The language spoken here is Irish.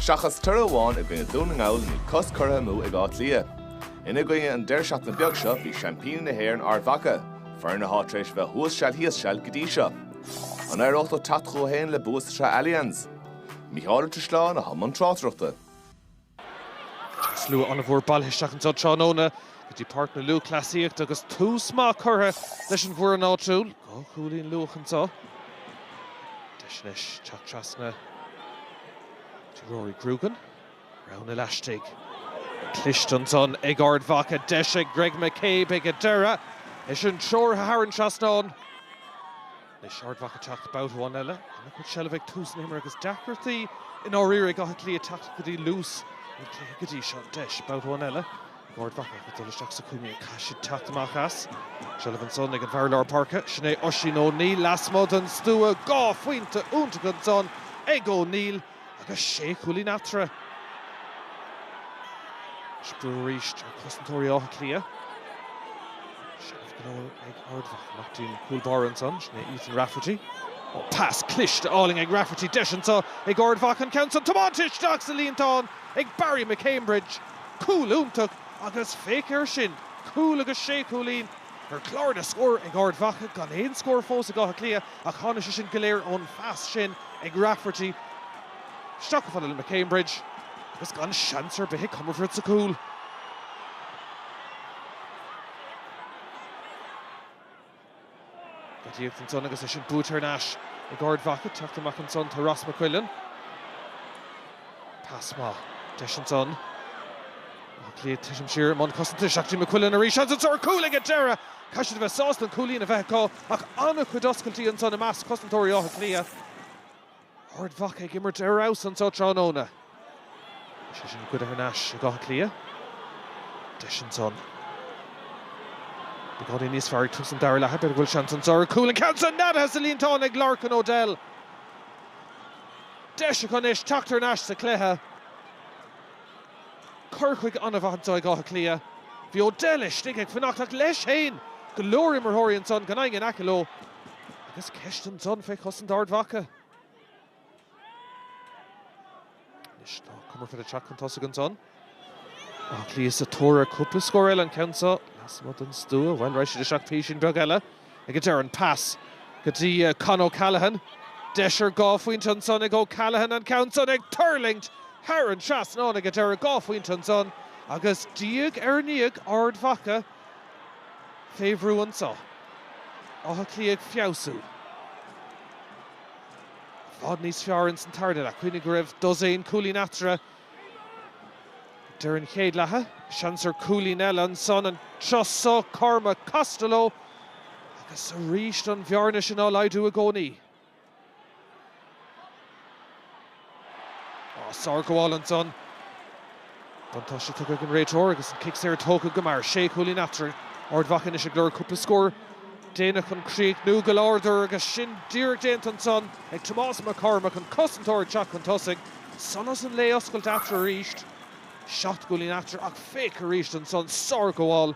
Seachas toradh amháin i gcoinne Dún na nGall níl cos curtha amú ag Áth Cliath. Ina gcoinne an deireadh seachtaine beag seo bhí seaimpíní na hÉireann Ard Mhaca, foireann atá tar éis bheith thuas seal thíos seal go dtí seo. An éireodh leo teacht chucu féin le bua sa tsraith Allianz? Mícheál Ó Drisleáin atá i mbun tráchtaireachta. Tá slua an-mhór bailithe isteach anseo tráthnóna go dtí Páirc na Lúthchleasaíochta agus tús maith curtha leis an bhfoireann áitiúil dhá chúilín luath anseo. Deis anois teacht trasna do Rory Grugan. Roghanna laistigh, cliste ansan ag Ard Mhacha. Deis ag Greg McCabe ag an deireadh is é sin treoraithe thar an trasnán. Anois Ard Mhacha teacht babhta amháin eile, an-chuid seilbh ag tús an imeartha agus deacrachtaí i ndáiríre ag Áth Cliath teacht go dtí luas an chluiche go dtí seo. Deis babhta amháin eile ag Ard Mhacha chun dul isteach sa cúinne, caithfidh siad teacht amach as. Seilbh ansan ag an bhfear lár páirce, sin é Oisín Ó Neill, lasmuigh den stua, dhá phointe iontacha ansan ag Ó Neill. agus sé chúilín eatarthu. Is brú arís ar chosantóirí Átha Cliath. Seilbh go leor ag Ard Mhacha. Amach go dtí an cúl báire ansan. Sin é Ethan Rafferty. Ó, pas cliste álainn ag Rafferty. Deis anso ag Ard Mhacha an ceann san tiomáinte isteach sa líontán ag Barry McCambridge. Cúl iontach agus féach air sin, cúl agus sé chúilín ar chlár na scór ag Ard Mhacha gan aon scór fós ag Áth Cliath. Ach tháinig sin go léir ón phas sin ag Rafferty isteach go dtí McCambridge agus gan seans ar bith ag Comerford sa chúl. Gaois ansan agus é sin buailte thar n-ais ag Ard Mhacha, teacht amach ansan tá Ross McQuillan. Pas maith. Deis ansan. Áth Cliath titim siar i mbun cosanta. Seachnaíonn McQuillan arís seans ar chúl ag an deireadh. Caithfidh siad a bheith sásta an cúilín a bheith acu. Ach an-chuid oscailtí ansan i measc chosantóirí Átha Cliath. Ard Mhacha ag imirt ar fheabhas anso tráthnóna. Is é sin curtha thar n-ais ag Áth Cliath. Deis ansan. Beagáinín níos fearr ag tús an dara leatha. B'fhéidir go bhfuil seans anso ar chúl. An ceann san neadaithe sa líontán ag Lorcan O'Dell. Deis acu anois teacht thar n-ais sa chluiche. Cur chuige an-mhaith ag Áth Cliath. Bhí O'Dell istigh ag fanacht ach leis féin go leor imreoirí ansan gan éinne in aice leo agus ceist ansan fé chosaint Ard Mhacha. Anois tá Comerford ag teacht chun tosaigh ansan. Áth Cliath sa tóir ar cúpla scór eile an ceann seo lasmuigh den stua. Bhuel, raghaidh siad isteach písín beag eile. ag a deireadh an pas go dtí Con O'Callaghan. Deis ar dhá phointe ansan ag O'Callaghan, an ceann san ag tuirlingt thar an trasnán ag a deireadh. Dhá phointe ansan agus diaidh ar ndiaidh, Ard Mhacha fé bhrú anso. Áth Cliath ag feabhsú i bhfad níos fearr ins an tarna leath. Cuimhnigh go raibh dosaen cúilín eatarthu. Deireadh an chéad leatha, seans ar cúilín eile ansan, an turas so, Cormac Costello, agus arís an bhearna sin á laghdú i gcónaí. Á, sárghabháil ansan. Buntáiste tugtha ag an réiteoir agus an cic saor tógtha go mear. Sé chúilín eatarthu. Ard Mhacha anois ag lorg cúpla scór déanach chun críochnú go láidir agus sin díreach déanta ansan ag Tomas Mac Cormaic, an cosantóir ag teacht chun tosaigh. Solas an lae oscailte eatarthu arís. Seacht gcúilín eatarthu ach féach arís ansan, sárghabháil.